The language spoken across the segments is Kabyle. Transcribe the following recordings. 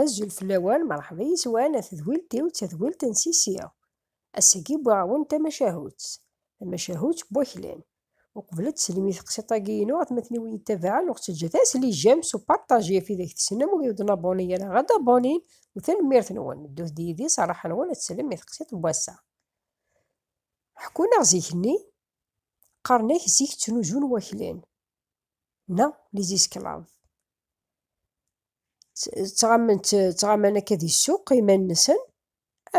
Azul fell-awen, merḥba yes-wen a tedwilt-iw d tadwilt n Sisi. Ass-agi wwiɣ-awen tamacahut, tamacahut n waklan. Uqbel ad teslem i teqsiṭ-agi-inu, atmaten-iw i iyi-ittabaɛen, ur ɣ-ttaǧǧat ara sli j'aime s uparṭaji ɣef widak tessnem, wid ur d-nabuni ara ad d-abunin, u tanemmirt-nwen. Ddut-d yid-i s rraḥa-nwen ad teslem i teqsiṭ n wass-a. Ḥekkun-aɣ zik-nni, qqaren-ak zik ttnuzun waklan, neɣ les esclaves. Ttɣaman ttɣaman akka di ssuq iman-nsen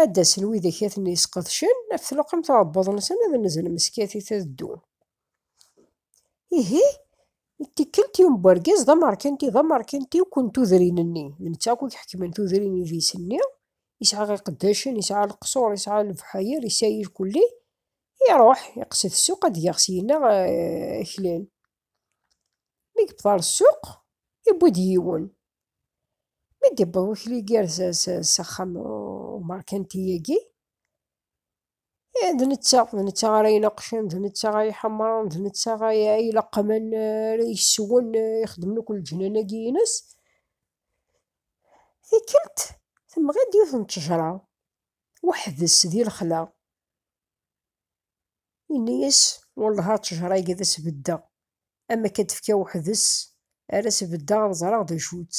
ad d-asen widak i ten-yesqedcen ɣef tluqamt n uɛebbuḍ-nsen ad nzen meskatit ad ddun. Ihi tikkelt yiwen n urgaz d amerkanti d amerkanti akk n tudrin-nni, d netta akk i iḥekmen tudrin idis-nni, yesɛa iqeddacen, yesɛa leqṣur, yesɛa lefḥayar, yesɛa irkulli, Iruḥ, iqsed ssuq ad geɣ syin-a aklan. Mi yewweḍ ɣer ssuq, yewwi-d yiwen. Mi d-yewweḍ wakli gar s axxam umerkanti-agi, d netta, d netta ara ineqqcen, d netta ara iḥemmren, d netta ara ileqqmen, ara yesswen, ixeddmen akk leǧnan-agi-ines. Tikkelt, temɣi-d yiwet n ttejra, weḥd-s di lexla. Yenna-yas, Wellah a ttejṛa-agi ad as-beddeɣ, am akka d-tefka weḥd-s, ar as-beddeɣ ad ẓreɣ d acu-tt.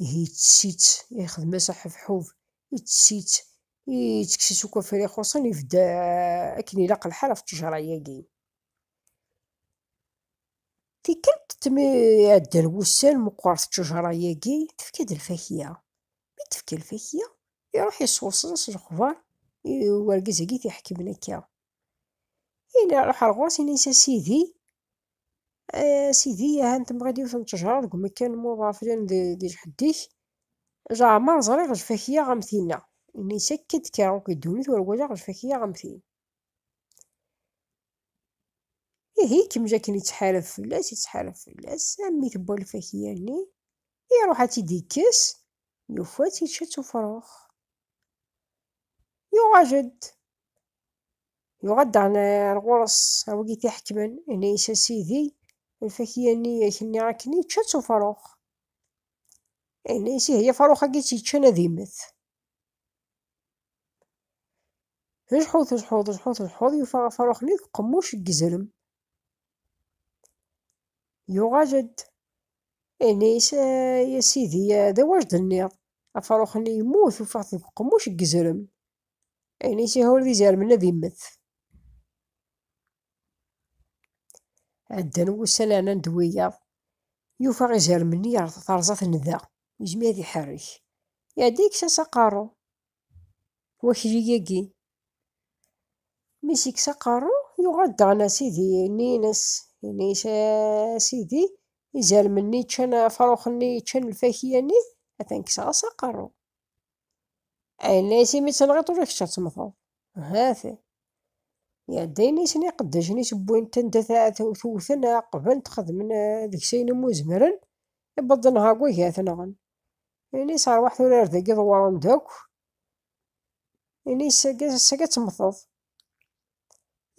Ihi ittess-itt, ixdem-as aḥebḥub, ittess-itt, ittekkes-itt akk afri xuṣṣen, ibedd akken ilaq lḥal ɣef ttejṛa-agi. Tikkelt mi ɛeddan wussan meqqret ttejṛa-agi, tefka-d lfakya. Mi d-tefka lfakya, iruḥ yesɣuṣṣen s lexbar i urgaz-agi i t-iḥekmen akka. Yella iruḥ ar ɣur-s, yenna-as, A Sidi, a Sidi, aha n temɣid yiwet n ttejṛa deg umekkan n uḍar flan di lḥedd-ik, leɛmeṛ ẓriɣ lfakya am tinna. Yenna-as, Akka i d-kkreɣ akk di ddunit ur walaɣ lfakya am tin. Ihi ikemmel akken yettḥarab fell-as, yettḥarab fell-as, armi tewwa lfakya-nni. Iruḥ ad tt-id-ikkes, yufa-tt ičča-tt ufrux. Yuɣal-d, yuɣal-d ɣer ɣur-s awgi i t-iḥekmen, yenna-as a sidi, lfakya-nni i ak-nniɣ akken ičča-tt ufrux. Yenna-as ihi afrux-agi i tt-iččan ad immet. Tejḥu, tejḥu, tejḥu, tejḥu, yufa afrux-nni deg uqemmuc n yizrem. Yuɣal-d, Ini-as, Ya sidi, d awa i d-tenniḍ? Afrux-nni yemmut, ufiɣ-t deg uqemmuc deg yezrem. Ini-as, Ihi ur d izermen ad immet. Ɛeddan wussan rnan-d wiyaḍ, yufa izermen-nni yerreẓ-aten da, yezmer ad iḥerrek. Iɛedda yekkes-as aqerru. wakli-agi. Mi s-yekkes aqerru, yuɣal daɣen a sidi, yenna-as, yenna-as a sidi, izermen-nni yeččan, afrux-nni yeččan lfakya-nni, atan kkseɣ-as aqerru. Yenna-as imi tenɣiḍ ula kečč ad temmteḍ. Hat. Iɛedda yenna-asen iqeddacen-is wwin-t anda tewten, qeblen-t, xedmen eh, deg-s ayen umi zemren, iwweḍen ɣer wagi ad t-nɣen. Ini-s rwaḥ tura ar dagi dewren-d akk. Ini-s saga temmteḍ.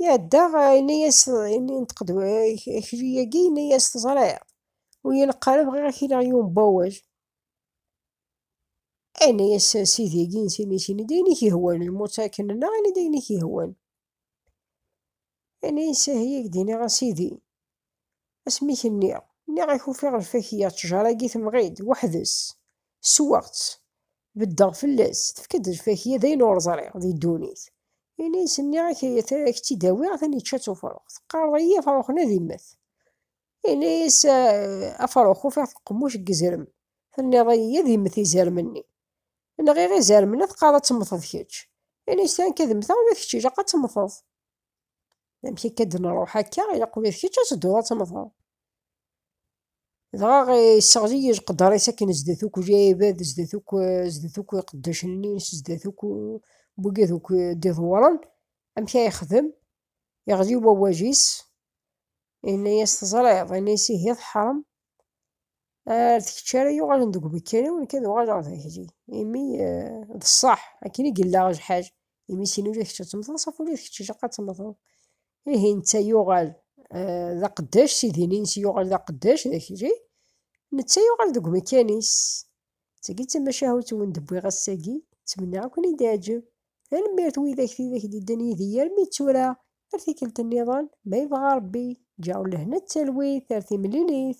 Iɛedda ini-as ini neṭq-d akli-agi ini-as teẓriḍ. Ur yi-neqqar bɣiɣ ad k-iniɣ yiwen n wawal. Ini-as sidi-agi ini-s ini-d ayen i k-ihwan lmut akken-nneɣ ini-d ayen i k-ihwan. Ana insahi i k-d-iniɣ a sidi, asmi i k-nniɣ, nniɣ-ak ufiɣ lfakya, ttjara-agi temɣi-d, weḥd-s, sweɣ-tt, beddeɣ fell-as, tefka-d lfakya, d ayen ur ẓriɣ di ddunit, ini-as, nniɣ-ak a k-tt-id-awiɣ, atan yečča-tt ufrux, teqqareḍ-iyi afrux-nni ad immet, Ini-as Afṛux, ufiɣ teqmuc deg izrem. Tenniḍ-iyi ad immet izrem-nni. Nɣiɣ izrem-nni, teqqareḍ ad temmteḍ kečč. Ini-as tura nekk ad mmteɣ, ula d kečč ilaq ad temmteḍ. Amek akka ad nṛuḥ akka, ilaq ula d kečč ad tedduḍ ad temmteḍ. Dɣa yesseɣli-yi leqder-is akken zdat akk lɛibad, zdat akk zdat akk iqeddacen-nni-ines, zdat akk wigi akk d-iḍewṛen, amek ara yexdem, Iɣli wawaj-is, yenna-yas teẓriḍ, yenna-yas ihi teḥṛem, ar d kečč ara yuɣalen deg umekkan-iw, nekk ad uɣaleɣ d akli, imi d ṣṣeḥ akken i yella ajḥaǧ, imi sin ula d kečč ad temmteḍ, saf ula d kečč ilaq ad temmteḍ. Ihi netta yuɣal d aqeddac, sidi-nni-ines yuɣal d aqeddac d akli, netta yuɣal deg umekkan-is. Tagi d tamacahut wen d-wwiɣ ass-agi, ttmenniɣ ad ken-id-iɛǧeb. Tanemmirt widak tidak d-iddan yid-i armi d tura, ar tikkelt nniḍen, ma yebɣa Rebbi. Ǧǧeɣ lehna d talwit ar timlilit.